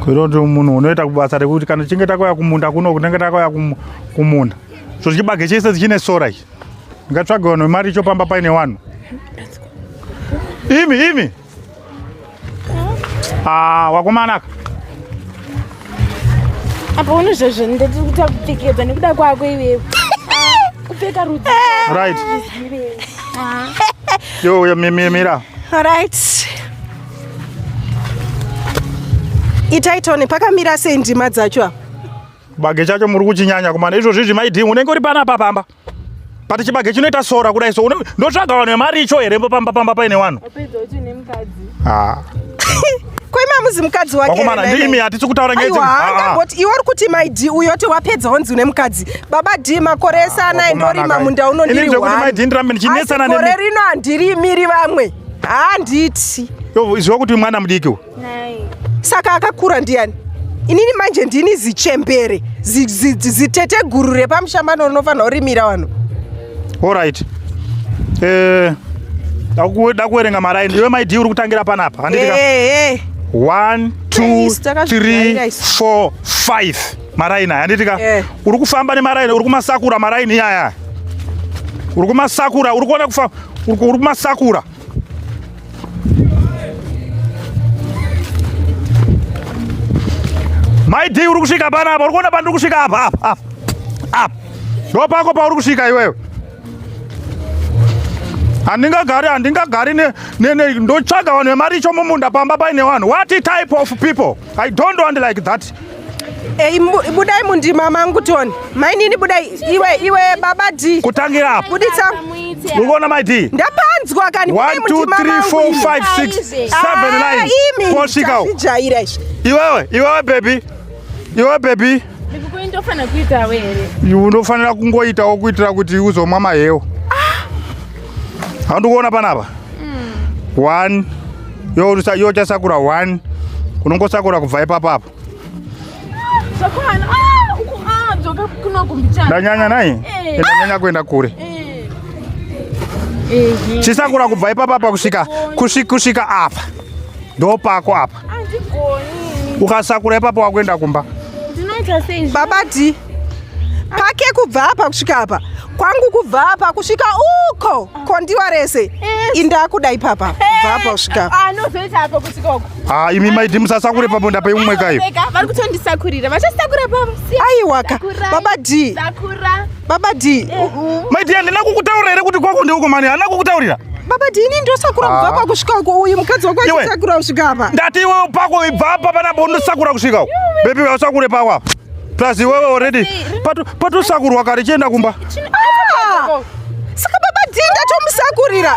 kuita kuti munhu unoita kubasa rekuti kana tichinge takauya kumunda kuno kunenge takauya kumunda so chibage chese chine sora ichi ndingatsvaga vanhu vemari icho pamba paine vanhu imi imi ah, wakomanaka apa uno zvazvo ndati kuti akupfekedza nekuda kwako iwewe ah, kupfeka rudzi right ah. yo mira right itai tone pakamira sei ndima dzacho apa chibage chacho muri kuchinyanya kumana izvozvi zvimaidhing unenge uri pana apa pamba but chibage chinoita sora kudai so ndotsvaga vanhu vemari icho here pamba pamba paine vanhu kwemamuzi mukadzi wakeakomana ndiimi hatisi kutaura ngeangamboti ah, ah. iwe uri kuti mai d uyo ti wapedza honzi une mukadzi baba d makore esana endorima munda unondirihwani ndirambe ndichinetsana gore rino handirimiri vamwe handiti ziva kuti mwana mudiki u saka akakura ndiyani inini manje ndini zichembere zitete guru repamushambano rinofanira kurimira vanhu orit eh, da kuverenga maraini iwe maidi uri kutangira panapa handitika 1 2 3 4 5 maraini aya handiti ka eh. uri kufamba nemaraini uri kumasakura maraini iyaya uri kumasakura uri kuona kufa uri kumasakura maid uri kusvika pana apa uri kuona pandiri kusvika apa apa apa apa ndo pako pauri kusvika iwewe handingagari handingagari ndotsvaga vanhu vemaricho mumunda pamba paine vanhu what type of people I don't want like that. Hey, eh, budai mundima mangu toni mainini budai iwe iwe baba d kutangira apo buditsa ukaona mai d ndapanzwa kani posvika iwewe iwewe bebi iwewe bebi iwe unofanira kungoitawo kuitira kuti uzomwa mahewo handikuona panapa mm. one yochasakura one unongosakura kubva ipapa apo ndanyanya nai eh. ndanyanya kuenda kure eh. Eh, chisakura kubva ipapa apa kusvika kusvika apa ndopako apa ukasakura ipapo wakuenda kumba baba d pake kubva apa kusvika apa kwangu kubva apa kusvika uko kondiwa rese eh. indakuda ipapa kubva apa kusvika ah, imi maidi musasakure papo ndapai umwe kayo aiwaka baba d Baba D. Mai D handina kukutaurira here kuti kwako ndeuko mani handina kukutaurira. Baba D ini ndosakura kubva ah. pakusvika uko uyu mukadzi wako achisakura kusvika apa. Ndati iwewe pako ibva apa pana bo ndosakura kusvika uko. Baby usakure pako apa. Plus iwewe already patosakurwa kare chienda kumba. Ah! Saka baba D ndatomusakurira.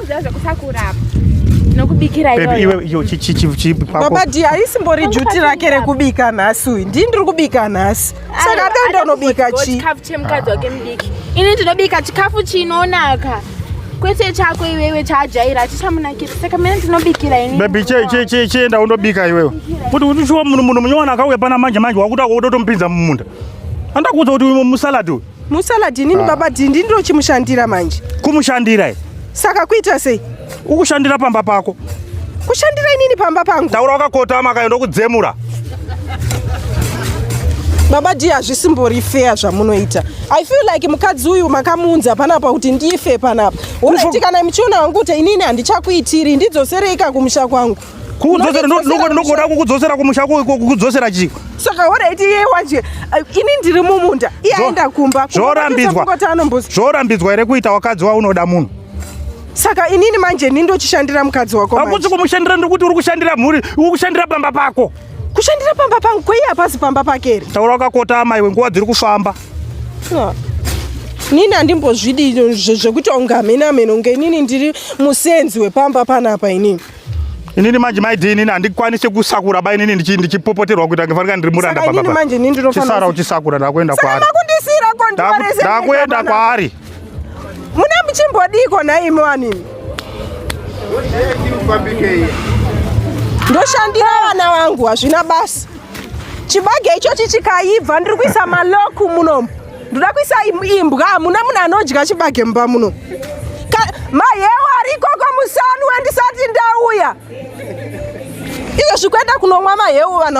baba di haisimbori juti rake rekubika nhasi uyu ndii ndiri kubika nhasi saka ape ndonobika chikafu chemukadzi wake mudiki ini ndinobika chikafu chinonaka kwete chako iwewe chaajaira achichamunakira saka mene ndinobikira ini bebi chienda undobika iwewe kuti uchiwa munhu munhu munyowani akauya pana manje manje wakuda kutotompinza mumunda andakuudza kuti musalad uyu musaladi inini ah. baba dhindi ndirochimushandira manje kumushandira e saka kuita sei ukushandira pamba pako kushandira inini pamba pangu taura wakakotama akaenda kudzemura baba dhi hazvisimbori feya zvamunoita i feel like mukadzi uyu makamuunza panapa kuti ndife panapa unoitikana muchiona wangu kuti inini handichakuitiri ndidzosereika kumusha kwangu kukudzosera ndokuda kukudzosera kumusha kukudzosera chii saka horaiti iye waje ini ndiri mumunda iye aenda kumba zvorambidzwa zvorambidzwa here kuita wakadzi waunoda munhu saka inini manje ni ndochishandira mukadzi wako hakusi kumushandira ndikuti uri kushandira mhuri uri kushandira pamba pako kushandira pamba pangu kwei hapasi pamba pake here taura wakakota amai we nguva dziri kufamba nini handimbozvidi zvekuti ungamhenamheno ngenini ndiri musenzi wepamba panapa inini inini manje maidi inini handikwanise kusakura ba inini ndichipopoterwa kuita ngefanika ndiri muranda babachisara uchisakura ndakuenda kwaari ndakuenda kwaari mune muchimbodiko nhaimi wanini ndoshandira vana vangu hazvina basa chibage ichochi chikaibva ndiri kuisa maloku munomu ndoda kuisa imbwa hamuna munhu anodya chibage mumba muno mahewa arikoko musanwa ndisati ndauya izvo zvikuenda kunomwa mahewu vanhu